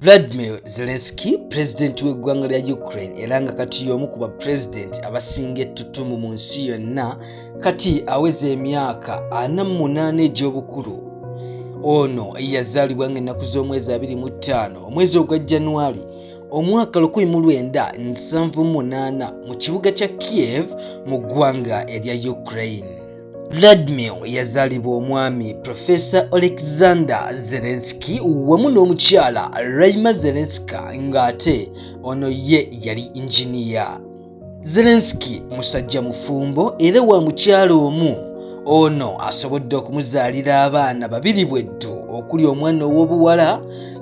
vladimir zelenski pulezidenti w'eggwanga lya ukraine era nga kati y'omu ku bapulezidenti abasinga ettutumu mu nsi yonna kati aweza emyaka ana mu munaana egy'obukulu ono eyazaalibwa nga ennaku z'omwezi 25 omwezi ogwa januari omwaka 1978 mu kibuga kya kiev mu ggwanga erya ukraine Vladimir yazaalibwa omwami Profesa Oleksandr Zelensky wamu n'omukyala Raima Zelenska ng'ate ono ye yali injiniya. Zelensky musajja mufumbo era wa mukyala omu. Ono asobodde okumuzaalira abaana babiri bweddu okuli omwana ow'obuwala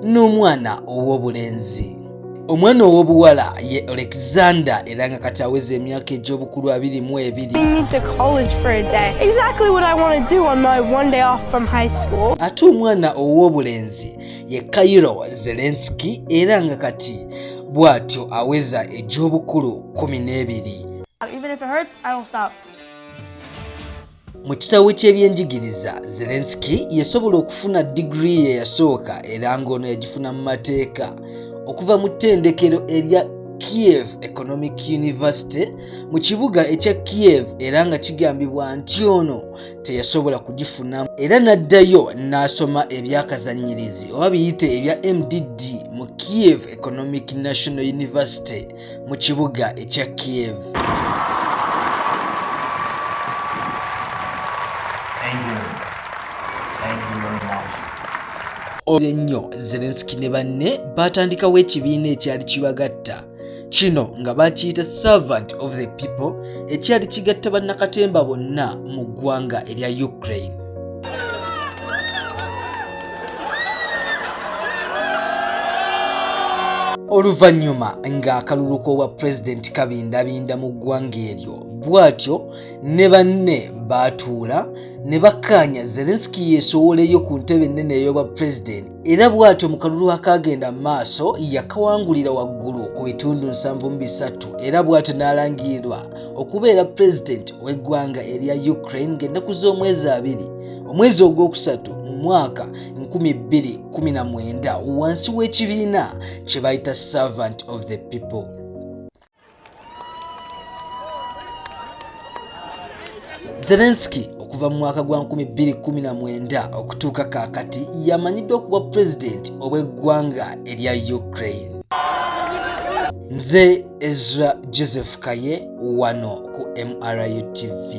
n'omwana ow'obulenzi. omwana ow'obuwala ye alexander era nga kati aweza emyaka egy'obukulu abiri mu ebiri ate omwana ow'obulenzi ye kairo zelenski era nga kati bw'atyo aweza egy'obukulu kumi n'ebiri Mu kisaawe ky'ebyenjigiriza, Zelensky yasobola okufuna digiri ye yasooka era ng'ono yagifuna mu mateeka okuva mu ttendekero erya Kiev Economic University mu kibuga ekya Kiev era nga kigambibwa nti ono teyasobola kugifuna era n'addayo n'asoma ebyakazannyirizi oba biyite ebya MDD mu Kiev Economic National University. mu kibuga ekya Kiev. Olwo nnyo Zelensky ne banne baatandikawo ekibiina ekyali kibagatta kino nga bakiyita servant of the people ekyali kigatta bannakatemba bonna mu ggwanga erya Ukraine. oluvannyuma ng'akalulu k'obwa pulezidenti kabindabinda mu ggwanga eryo bw'atyo ne banne baatuula ne bakkaanya zelenski yeesowoleyo ku ntebe ennene ey'obwa pulezidenti era bw'atyo mu kalulu akaagenda mu maaso yakawangulira waggulu ku bitundu nsanvu mu bisatu era bw'atyo n'alangirirwa okubeera pulezidenti w'eggwanga erya ukraine ng'ennaku z'omwezi abiri omwezi ogwokusatu mu mwaka 219 wansi w'ekibiina kye bayita servant of the people zelenski okuva mu mwaka gwa 219 okutuuka kaakati yamanyiddwa okuba pulezidenti obw'eggwanga erya ukraine nze ezra joseph kaye wano ku mru tv